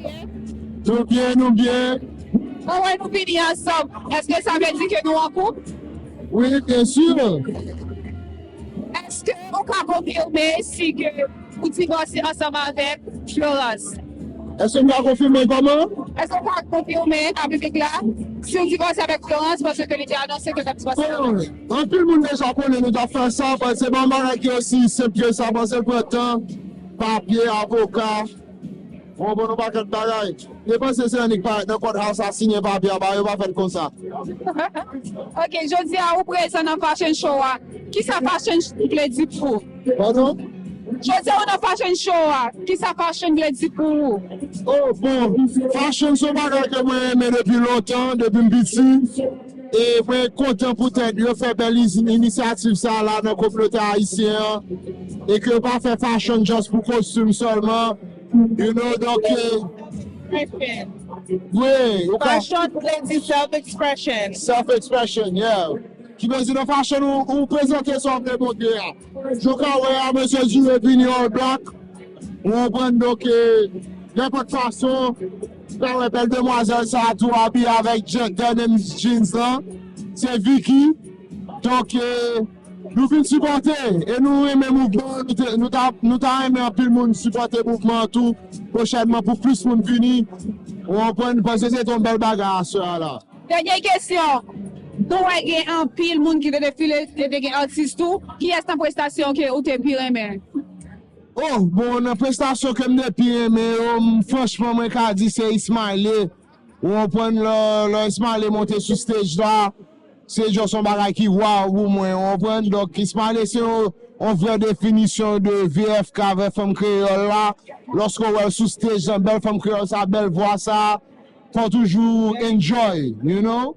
Nou byen nou byen. Mwen wè nou vini ansanm eske sa vle di ke nou an koup? Wi byen sur. Eske ou ka konfime si ke ou divòse ansanm avèk Florence? Eske m ka konfime kòman? Eske ou ka konfime a piblik la si ou divòse avèk Florence paske ke li te anonse ke l t ap divòse avèk ou? Bon anpil moun deja konnen nou t ap fè sa, se pa yon bagay ki osi senp ke sa paske l pran tan, papye, avoka. Bon bon nou pa kèk bagay. Mte panse se annik parèt nan kòd house a siyen papye a bagay yo pa fèt konsa. Ok jodia ou prezan nan fashion show a kisa fashion vle di pou ou? Pardon? Jodia ou nan fashion show a kisa fashion vle di pou ou? Oh bon fashion son bagay ke mwen renmen depi lontan depim piti. E mwen kontan poutèt yo fè bèl inisyativ sa la nan kominote ayisyen an e ke yo pa fè fashion just pou kostim sèlman you know donk wi Fashion vle di self expression. Self expression yeah Ki vle di nan fashion ou prezante sa w vle montre a jan w ka wè a mesye Dure vini all black ou konprann donk nenpòt fason. Ti pa wè bèl demwazèl sa tou abiye avèk djèkè menm jeans lan se Vicky donk nou vin sipòte e nou renmen mouvman an nou ta renmen anpil moun sipòte mouvman an tou pwochènman pou plis moun vini ou konprann nou panse se te yon bèl bagay a sè a la. Dènye kesyon Nou wè gen anpil moun ki te defile e te gen atis tou kiyès nan prestasyon ke ou te pi renmen? Oh bon nan prestasyon ke m te pi renmen yo m franchman mwen ka di se Ismaëlle ou konprann lò Ismaëlle monte sou stage la se just yon bagay ki waww pou mwen ou konprann donk Ismaëlle se yon vrè definisyon de VFK vrè fanm kreyòl la lòske ou wè l sou stage lan bèl fanm kreyòl sa bèl vwa sa fò w toujou enjoy you know.